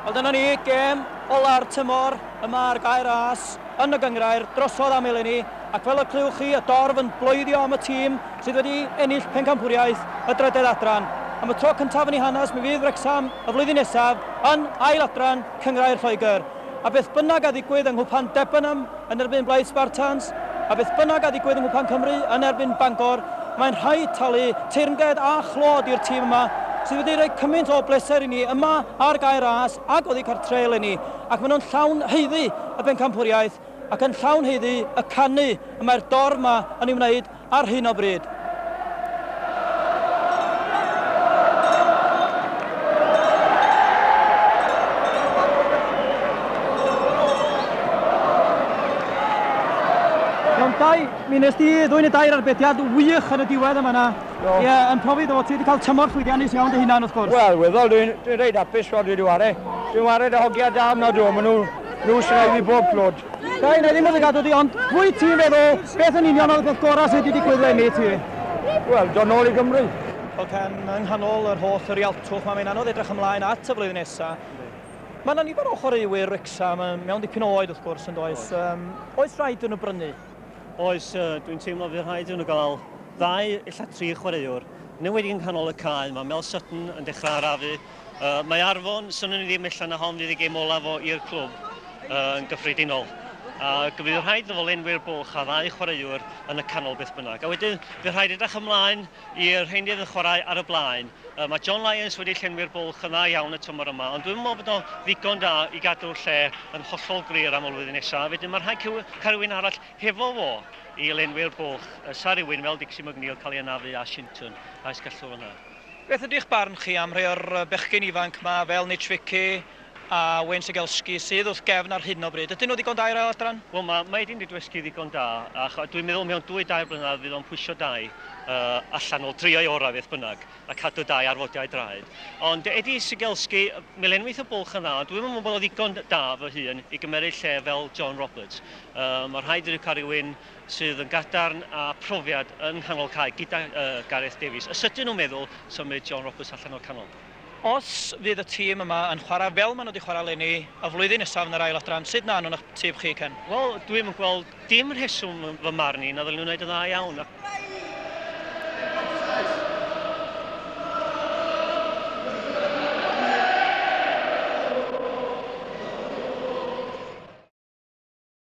A dyna ni, gêm ola'r tymor yma ar Gae Ras yn y gynghrair drosodd am eleni ac fel y clywch chi y dorf yn bloeddio am y tîm sydd wedi ennill pencampwriaeth y drydedd adran. Am y tro cyntaf yn ei hanes mi fydd Wrecsam y flwyddyn nesaf yn ail adran cynghrair Lloegr. A beth bynnag a ddigwydd yng Nghwpan Debenham yn erbyn Blaid Spartans, a beth bynnag a ddigwydd yng Nghwpan Cymru yn erbyn Bangor, mae'n rhaid talu teyrnged a chlod i'r tîm yma sydd wedi rhoi cymaint o bleser i ni yma ar gae ras ac oddi cartre eleni, ac maen nhw'n llawn haeddu y bencampwriaeth ac yn llawn haeddu y canu y mae'r dorf yma yn ei wneud. ar hyn o bryd. Dau, mi nes di ddwy'n y dair arbediad wych yn y diwedd yma na. Ie, yeah, yn profi ddo, ti wedi cael tymor llwyddiannus iawn dy hunan wrth gwrs. Wel, weddol, dwi'n dwi reid apus fod wedi ware. Dwi'n ware dy hogiau da am nad o, maen nhw, nhw srai fi bob clod. Dai, na ddim yn ddigadw di, ond wyt ti'n feddwl beth yn union oedd y peth gorau sydd wedi digwydd lenni ti? Wel, do nôl i Gymru. Ac yn yng nghanol yr holl rialtwch mae mae'n anodd edrych ymlaen at y flwyddyn nesaf. Mae yna nifer o chwaraewyr Wrecsam mewn dipyn o oed wrth gwrs yn does? Um, oes rhaid yn y brynu? Oes, uh, dwi'n teimlo fydd rhaid yn y gael ddau illa tri chwaraewr. Newid yng nghanol y cae, mae Mel Sutton yn dechrau arafu, Yy, mae Arfon, swnwn i ddim ella na hon fydd ei gêm olaf o i'r clwb yy, yn gyffredinol. A bydd rhaid iddo fo lenwi'r bwlch a ddau chwaraewr yn y canol beth bynnag. A wedyn, bydd rhaid edrych ymlaen i'r rheiny yn chwarae ar y blaen. Yy, mae John Lyons wedi llenwi'r bwlch yn dda iawn y tymor yma, ond dwi'n meddwl bod o'n ddigon da i gadw'r lle yn hollol glir am y flwyddyn nesaf. A wedyn, mae rhaid cael rhywun arall hefo fo i lenwi'r bwlch. Yy, sa rhywun fel Dixie McNeil cael ei anafu a Shinton, a oes gallwr yna. Beth ydi'ch barn chi am rhai o'r bechgyn ifanc 'ma fel Nitch Vicky a Wayne Cegelski sydd wrth gefn ar hyn o bryd? Ydyn nhw ddigon da i'r Ail Adran? Wel, mae Maedyn wedi dysgu ddigon da a dwi'n meddwl mewn dwy dair blynedd fydd o'n pwysio dau allan, wel, drio'i orau beth bynnag, a cadw dau arfodiad draed. Ond Eddie Cegelski, mi lenwith y bwlch yn dda, ond dwi'm yn meddwl bod o'n ddigon da fy hun i gymeryd lle fel John Roberts. Mae rhaid iddi cael rhywun sydd yn gadarn a phrofiad yng nghanol cae gyda Gareth Davies, y sydyn o meddwl symud John Roberts allan o'r canol. Os fydd y tîm yma yn chwarae fel maen nhw wedi chwarae eleni y flwyddyn nesaf yn yr ail adran, sut na anwn eich tîm chi, Ken? Wel, dwi'm yn gweld dim rheswm yn fy marn i na ddylwn nhw wneud yn dda iawn ac